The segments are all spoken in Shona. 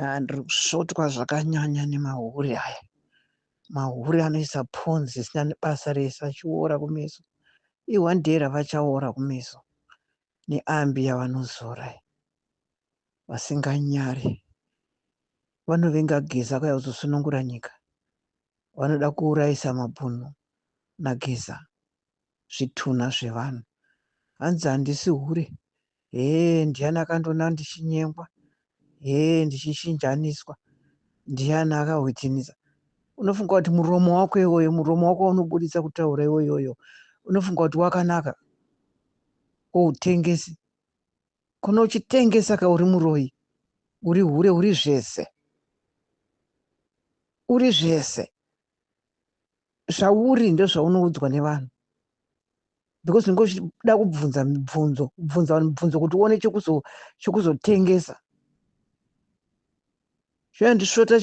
Ah, ndiri kusvotwa zvakanyanya nemahure aya mahure anoisa ponzi isina nebasa rese achiora kumeso ihwandera vachaora kumeso neambi yavanozora vasinganyare vanovenga geza kwaya kuzosunungura nyika vanoda kuurayisa mabhunu nageza zvitunha zvevanhu hanzi handisi hure hee ndiani akandiona ndichinyengwa hee ndichishinjaniswa ndiani akahwitiniza unofunga kuti muromo wako iwoyo muromo wako waunoburitsa kutaura iwoyoyo unofunga kuti wakanaka outengesi kono uchitengesa ka uri muroyi uri hure uri zvese uri zvese zvauri ndozvaunoudzwa nevanhu because unenge uchida kubvunza mibvunzo kubvunza vanhu mibvunzo kuti uone chekuzotengesa zvinondisvota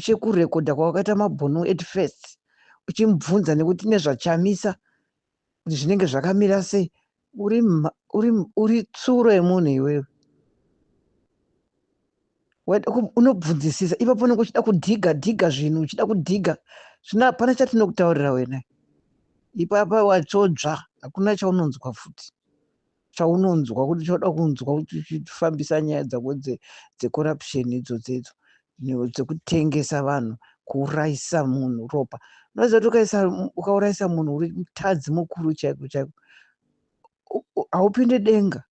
chekurekodha kwawakaita mabhunu at first uchimubvunza nekuti nezvachamisa kuti zvinenge zvakamira sei uri, uri, uri tsuro yemunhu iwewe unobvunzisisa ipapo unenge uchida kudhiga dhiga zvinhu uchida kudhiga zvino hapana chatinokutaurira wena ipapa watsvodzva hakuna chaunonzwa futi chaunonzwa kuti choda kunzwa kuti uchifambisa nyaya dzako dzecorruption idzodzo idzo dzekutengesa vanhu kuurayisa munhu ropa unoziva kuti ukaisa ukaurayisa munhu uri mutadzi mukuru chaiko chaiko haupinde denga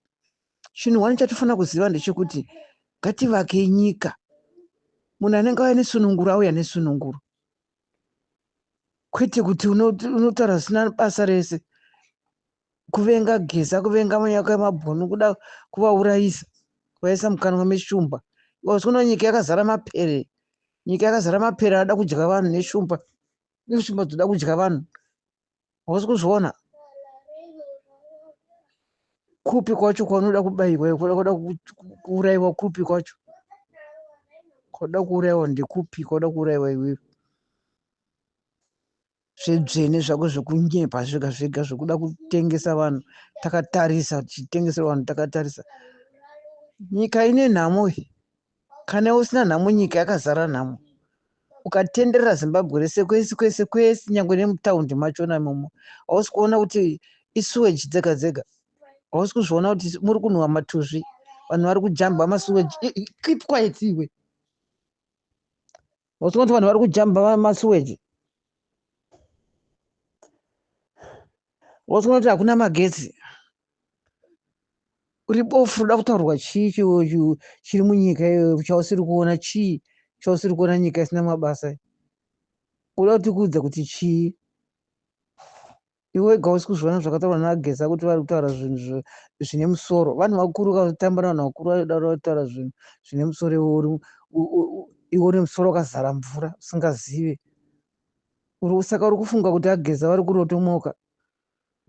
chinhu wani chatofanira kuziva ndechekuti ngativake nyika munhu anenge auya nesununguro auya nesununguro kwete kuti unotaura zvisina basa rese kuvenga geza kuvenga manyaka emabhunu kuda kuvaurayisa kuvaisa mukanwa meshumba because kuno nyika yakazara mapere nyika yakazara mapere anoda kudya vanhu neshumba neshumba dzoda kudya vanhu hausi kuzviona kupi kwacho kwaunoda kubayiwa kuda kuurayiwa kupi kwacho kwaunoda kuurayiwa ndekupi kwaunoda kuurayiwa iwewe zvedzvene zvako zvekunyepa zvega zvega zvekuda kutengesa vanhu takatarisa tichitengesa vanhu takatarisa nyika ine nhamo iyi kana usina nhamo nyika yakazara nhamo ukatenderera zimbabwe rese kwese kwese kwese nyangwe nemutaundi machona imomo hausi kuona kuti isuweji dzega dzega hausi kuzviona kuti muri kunhuwa matuzvi vanhu vari kujamba masuweji keep quiet iwe What's going to vanhu vari kujamba masuweji? What's going to hakuna magetsi? Uri bofu unoda kutaurwa chii chiwochu chiri munyika iyoyo chausiri kuona chii chausiri kuona nyika isina mabasa. Unoda kuti kuudza kuti chii? Iwe wega hausi kuzviona zvakataurwa naGeza kuti vari kutaura zvinhu zvine musoro. Vanhu vakuru kutamba navanhu vakuru vanodaro kutaura zvinhu zvine musoro iwe uri iwe une musoro wakazara mvura usingazive. Saka uri kufunga kuti ageza vari kurotomoka.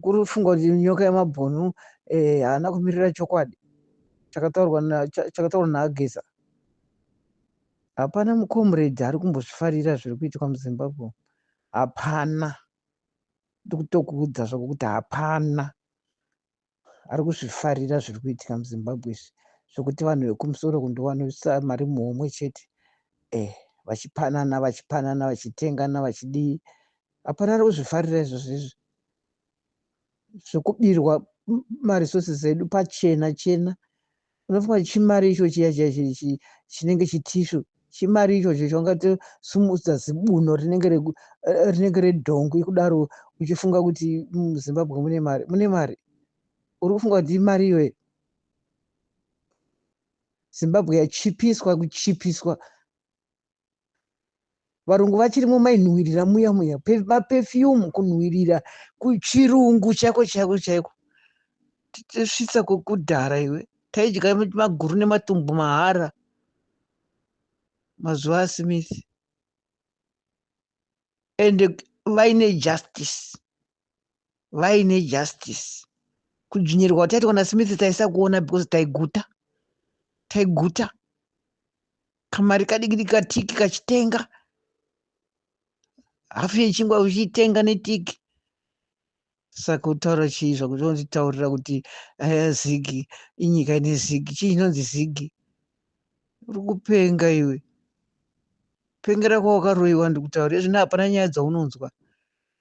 Kuri kufunga kuti nyoka yemabhonu eh, haana kumirira chokwadi chakataurwa chakataurwa naageza. Hapana mucomrade ari kumbozvifarira zviri kuitika muZimbabwe. Hapana. ndikutokuudza zvako kuti hapana ari kuzvifarira zviri kuitika muzimbabwe izvi zvekuti vanhu vekumusoro kundiwanisa mari muhomwe chete eh vachipanana vachipanana vachitengana vachidii hapana ari kuzvifarira izvozvo izvi zvekubirwa maresources edu pachena chena Unofunga kuti chimari icho chiya chiya chi- chi- chinenge chitishu chimari ichocho chaungatosumudza zibuno rinenge reku- eh, rinenge redhongwe kudaro uchifunga kuti muzimbabwe mune mari mune mari uri kufunga kuti imari iyoyo zimbabwe yachipiswa kuchipiswa varungu vachiri mumainhuwirira muya muya mapefiyumu kunhuwirira kuchirungu chako chako chaiko tisvitsa kwekudhara iwe taidya maguru nematumbu mahara mazuva asimithi ende vaine justice vaine justice kudzvinyirwa kwataitwa nasmith taisakuona because taiguta taiguta kamari kadikidi katiki kachitenga hafu yechingwa uchitenga netiki saka kutaura chii zvakuti unotitaurira kuti aya zigi inyika ine zigi chii chinonzi zigi uri kupenga iwe pengera kwawakaroyiwa ndikutaura izvino hapana nyaya dzaunonzwa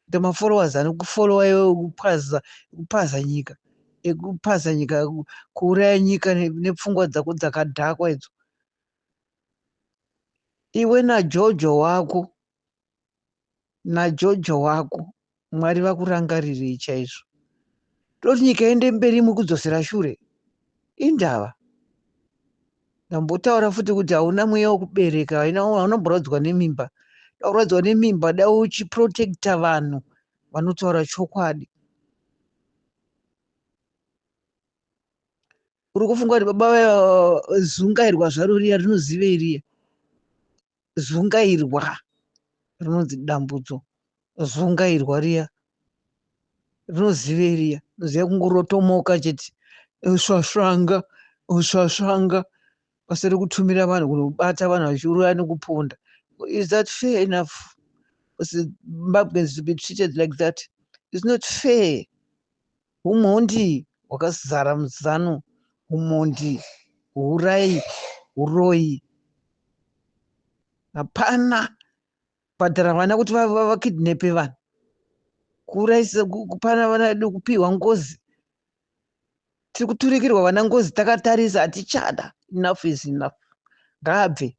Kuita ma followers anoku follower iwe ekupaza ekupaza nyika ekupaza nyika kuuraya nyika nepfungwa dzako dzakadhakwa idzo iwe najojo wako najojo wako mwari vakurangarirei chaizvo toti nyika ende mberi mukudzosera shure indava Ndambotaura futi kuti hauna mweya wekubereka, haunomborwadzwa nemimba. Taurwadzwa nemimba, dai uchiprotecta vanhu vanotaura chokwadi. Uri kufunga kuti baba vaya zungairwa zvaro riya rinozivei riya? zungairwa rinonzi dambudzo zungairwa riya rinozivei riya rinoziva kungorotomoka chete usvasvanga usvasvanga basa rekutumira vanhu kunobata vanhu vachiuraya nekuponda is that fair enough zimbabweans to be treated like that is not fair Humhondi hwakazara muZanu, humhondi, huurayi, huroyi. Hapana kubhadhara vana kuti vakidnepe vanhu, kuurayisa, kupana vana vedu, kupihwa ngozi. Tiri kuturikirwa vana ngozi takatarisa, hatichada. Enough is enough. Ngaabve.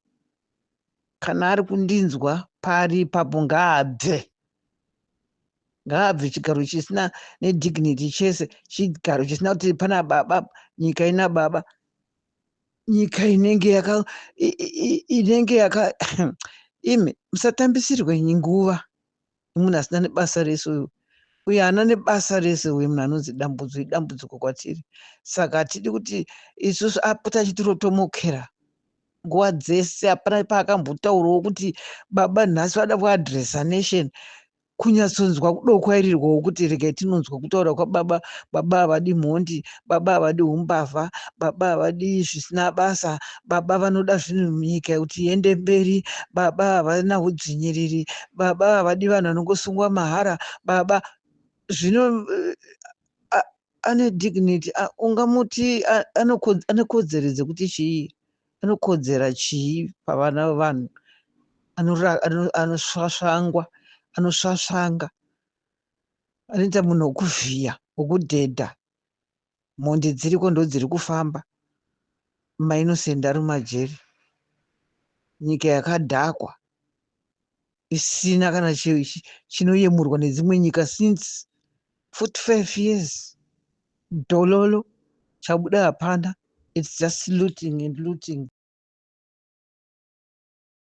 kana ari kundinzwa paari ipapo ngaabve ngaabve chigaro chisina nedignity chese chigaro chisina kuti pana baba nyika ina baba nyika inenge yaka inenge yaka imi musatambisirwe nguva imunhu asina nebasa rese uyu uyo ana nebasa rese uye munhu anonzi dambudzo idambudziko kwatiri saka hatidi kuti isusu apota achitirotomokera nguva dzese hapana paakambotaurawo kuti baba nhasi vada kuadresa nation kunyatsonzwa kudokwairirirwawo kuti regai tinonzwa kutaura kwababa baba havadi mhondi baba havadi umbavha baba havadi zvisina basa baba vanoda zvinhu nyika kuti iende mberi baba havana udzvinyiriri baba havadi vanhu vanongosungwa mahara baba zvino eh, ane dignity ungamuti ane kodzero dzekuti chii anokodzera chii pavana vevanhu anosvasvangwa anosvasvanga anoita munhu wokuvhiya wokudhedha mhondi dziriko ndodziri kufamba mainosend ari mumajeri nyika yakadhakwa isina kana chinoyemurwa nedzimwe nyika since 45 years dololo chabuda hapana its just looting and looting